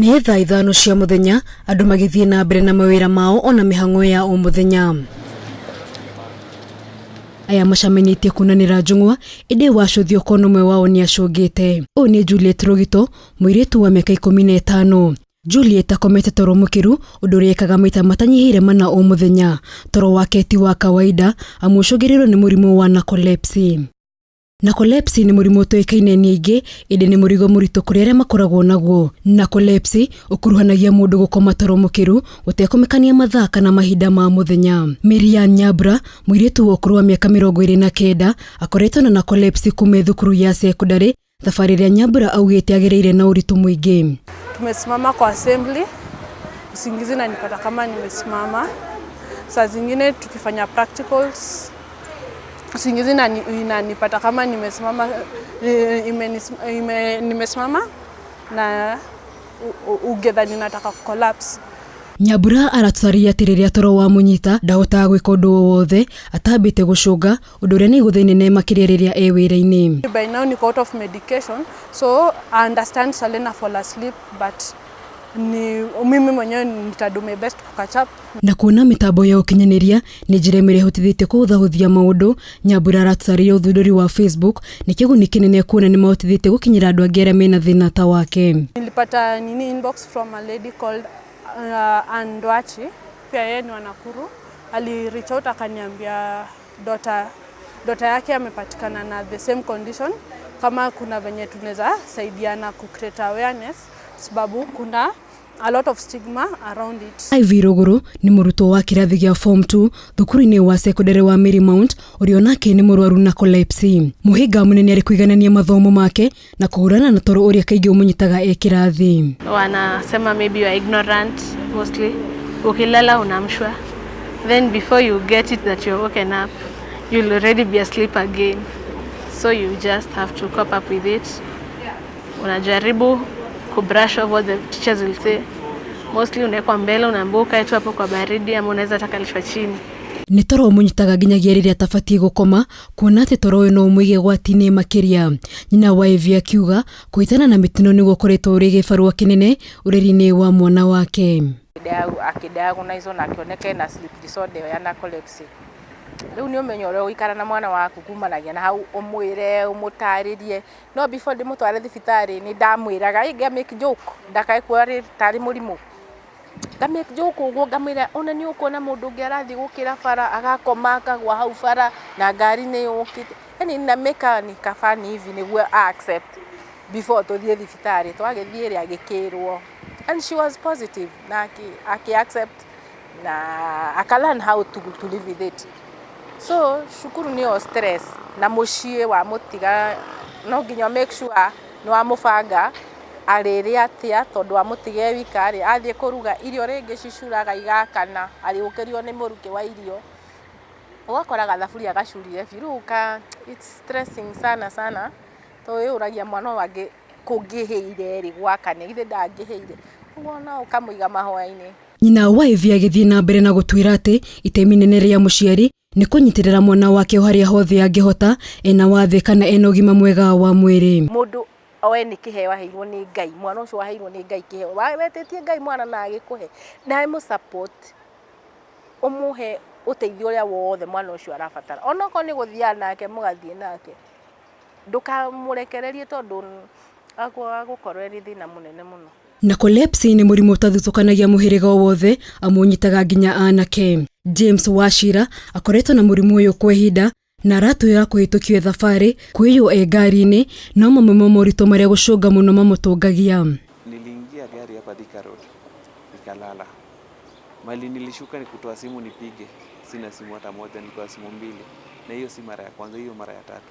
Nĩ thaa ithano cia mũthenya andũ magĩthiĩ na mbere na mawĩra mao ona mĩhang'o ya o mũthenya aya macamenyĩtie kunanĩra njũng'wa ĩndĩ wacũthio kona ũmwe wao nĩ acũngĩte ũyũ nĩ Juliet Rũgito mũirĩtu wa mĩaka ikũmi na ĩtano Juliet akomete toro mũkĩru ũndũ ũrĩa ekaga maita matanyihĩire mana o mũthenya toro wake ti wa kawaida amu ũcũngĩrĩirwo nĩ mũrimũ wa narcolepsy Narcolepsy nĩ mũrimũ ũtoĩkaine nĩ aingĩ, ĩndĩ nĩ mũrigo mũritũ kũrĩ arĩa makoragwo naguo. Narcolepsy ũkuruhanagia mũndũ gũkoma toro mũkĩru gũtekũmakania mathaa kana mahinda ma mũthenya. Miriam Nyambura, mũirĩtu wa ũkũrũ wa mĩaka mĩrongo ĩrĩ na kenda, akoretwo na narcolepsy kuuma e thukuru ya cekondarĩ, thabarĩ ĩrĩa Nyambura augĩte agereire na ũritũ mũingĩ. Tumesimama kwa assembly, usingizi inanipata kama nimesimama, saa zingine tukifanya practicals usingizi inani- inanipata kama nimesimama eh, imenis- ime, nimesimama na u- u- ungedhani nataka kucollapse nyambura aratũtarĩria atĩ rĩrĩa toro wamũnyita ndahotaga gwĩka ũndũ o wothe atambĩte gũcũnga ũndũ ũrĩa nĩ igũtha inene makĩria rĩrĩa e wĩra-inĩ by now niko out of medication so I understand Salena fall asleep but ni mimi mwenyewe nitadu my best to catch up Na kuona mĩtambo ya ũkinyanĩria nĩ njĩra ĩmwe ĩrĩa ĩhotithĩtie kũhũthahũthia maũndũ, Nyambura arataarĩria ũthundũri wa Facebook nĩ kĩguni kĩnene kuona nĩ mahotithĩtie gũkinyĩra andũ angĩ arĩa mena thĩna ta wake. Nilipata nini inbox from a lady called uh, Ann Ndwachi pia yeye ni wa Nakuru. Ali reach out akaniambia dota dota yake amepatikana na the same condition, kama kuna venye tunaweza saidiana ku create awareness, sababu kuna a lot of stigma around it. Iv Rũgũrũ nĩ mũrutwo wa kĩrathi gĩa form 2 thukuru-inĩ wa secondary wa Mary Mount ũrĩa onake nĩ mũrwaru na collapse. Mũhĩnga mũnene arĩ kũiganania mathomo make na kũhũrana na toro ũrĩa kaingĩ ũmũnyitaga e kĩrathi. wanasema maybe you are ignorant mostly ukilala unaamshwa then before you get it that you're woken up you'll already be asleep again so you just have to cope up with it unajaribu kubrush over the teachers will say mostly unawekwa mbele unaambiwa ukae tu hapo kwa baridi ama unaweza hata kalishwa chini nĩ toro ũmũnyitaga nginyagia rĩrĩa atabatiĩ gũkoma kuona atĩ toro ũyũ no ũmũige gwati-inĩ makĩria nyina wa evi akiuga kũhĩtana na mĩtino nĩguo ũkoretwo ũrĩ gĩbarũa kĩnene ũreri-inĩ wa mwana wake akĩdiagonizwo na akĩoneka ena sleep disorder ĩyo ya narcolepsy rĩu nĩ ũmenye ũrĩa ũgũikara na mwana waku kumanagia na hau ũmwĩre ũmũtarĩrie no before ndĩmũtware thibitarĩ nĩ ndamwĩraga ĩ nga make joke ndakae kuona rĩ- tarĩ mũrimũ nga make joke ũguo ngamwĩra ona nĩ ũkuona mũndũ ũngĩ arathiĩ gũkĩra bara agakoma akagwa hau bara na ngari nĩ yũkĩte yani na make a ni ka funny hivi nĩguo a accept before tũthiĩ thibitarĩ twagĩthiĩ rĩ agĩkĩrwo and she was positive na akĩ accept. na aka learn how to, to live with it so cukuru nĩ o stress na mũciĩ wa mũtiga no nginya make sure nĩ wa mũbanga arĩrĩa atĩa tondũ wa mũtiga wika rĩ athiĩ kũruga irio rĩngĩ cicuraga igakana arĩũkĩrio nĩ mũrukĩ wa irio ũgakora gathaburia gacurire biũ rĩu ka it's stressing sana sana to wĩyũragia mwana ũyũ angĩ kũngĩhĩire rĩ gwakane githĩ ndangĩhĩire ũguo no ũkamũiga mahoya-inĩ. Nyina wa Ĩvi agĩthiĩ na mbere na gũtwĩra atĩ itemi inene rĩa mũciari nĩ kũnyitĩrĩra mwana wake o harĩa hothe angĩhota, ena wathĩ kana ena ũgima mwega wa mwĩrĩ. Mũndũ oe nĩ kĩheo aheirwo nĩ Ngai, mwana ũcio aheirwo nĩ Ngai kĩheo. Wetĩtie Ngai mwana na agĩkũhe, nawe mũ support, ũmũhe ũteithio ũrĩa wothe mwana ũcio arabatara. Ona okorwo nĩ gũthiaga nake mũgathiĩ nake, ndũkamũrekererie tondũ agũkorwo arĩ thĩna mũnene mũno. Narcolepsy nĩ mũrimũ ũtathuthũkanagia mũhĩrĩga o wothe amu ũnyitaga nginya anake. James Wachira akoretwo na mũrimũ ũyũ kwa ihinda na aratwĩra kũhĩtũkio e thabarĩ, kũiywo e ngari-inĩ no mamwe ma moritũ marĩa gũcũnga mũno mamũtũngagia. Niliingia gari hapa Thika Road nikalala. Mali nilishuka ni kutoa simu nipige, sina simu hata moja, nilikuwa na simu mbili, na hiyo si mara ya kwanza, hiyo mara ya tatu.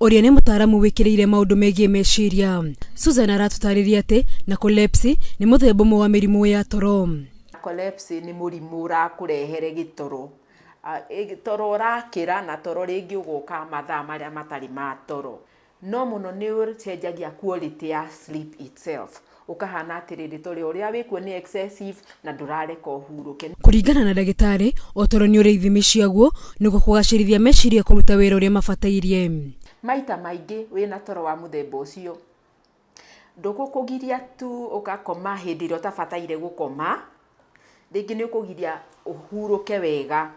ũrĩa nĩ mũtaaramu wĩkĩrĩire maũndũ megiĩ meciria. Susan aratũtarĩria atĩ narcolepsy nĩ mũthemba ũmwe wa mĩrimũ ya toro. Narcolepsy nĩ mũrimũ ũrakũrehere gĩtoro, toro ũrakĩra na toro rĩngĩ ũgoka mathaa marĩa matarĩ ma toro. No mũno nĩ ũcenjagia quality ya sleep itself. Ũkahana atĩrĩrĩ, tũrĩ ũrĩa wĩ kuo nĩ excessive na ndũrareka ũhurũke. Kũringana na ndagĩtarĩ, o toro nĩ ũrĩ ithimi ciaguo nĩguo kũgacĩrithia meciria kũruta wĩra ũrĩa mabatairie. Maita maingĩ wĩ na toro wa mũthemba ũcio, ndũgũkũgiria tu ũgakoma hĩndĩ ĩrĩa ũtabataire gũkoma, rĩngĩ nĩ ũkũgiria ũhurũke wega,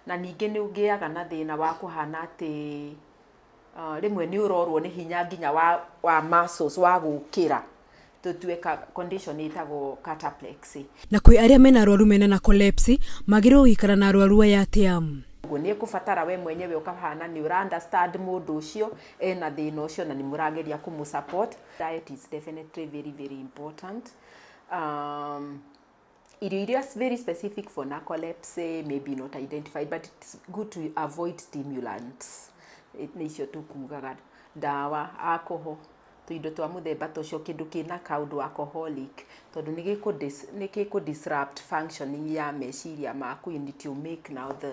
na ningĩ nĩ ũgĩaga na thĩna wa kũhana atĩ ah, rĩmwe nĩ ũrorwo nĩ hinya nginya wa, wa muscles wa gũkĩra tũtue ka condition ĩtagwo cataplexy Na kwĩ arĩa mena arwaru mena na kolepsi magĩrĩirwo gũikara na arwaru aya atĩa? ũguo nĩ ĩkũbatara we mwenyewe ũkahana nĩ ũra understand mũndũ ũcio ena thĩna ũcio na nĩ mũrageria kũmũ support diet is definitely very very important um, irio iria very specific for narcolepsy may be not identified but it's good to avoid stimulants Eh, nĩ icio tũkugaga ndawa alcohol tũindo twa mũthemba tũcio kĩndũ kĩna kaũndũ alcoholic tondũ nĩ gĩkũ dis- nĩ gĩkũ disrupt functioning ya meciria maku and it will make now the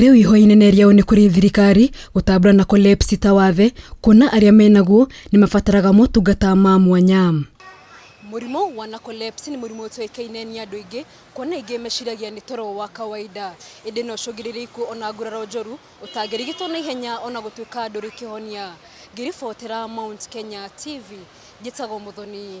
Rĩu ihoya-inĩ nĩ rĩao nĩ kũrĩ thirikari gũtambũra na Collapse ta wathe kuona arĩa menaguo nĩ mabataraga motungata ma mwanya. Mũrimũ wa narcolepsy nĩ mũrimũ ũtoĩkaine nĩ andũ aingĩ kuona aingĩ meciragia nĩ toro wa kawaida. Ĩndĩ no ũcũngĩrĩrie ikuũ ona nguraro njũru ũtangĩrigitwo na ihenya ona gũtuĩka ndũrĩ kĩhonia. Ngĩribotera Mount Kenya TV, njĩtagwo Mũthoni.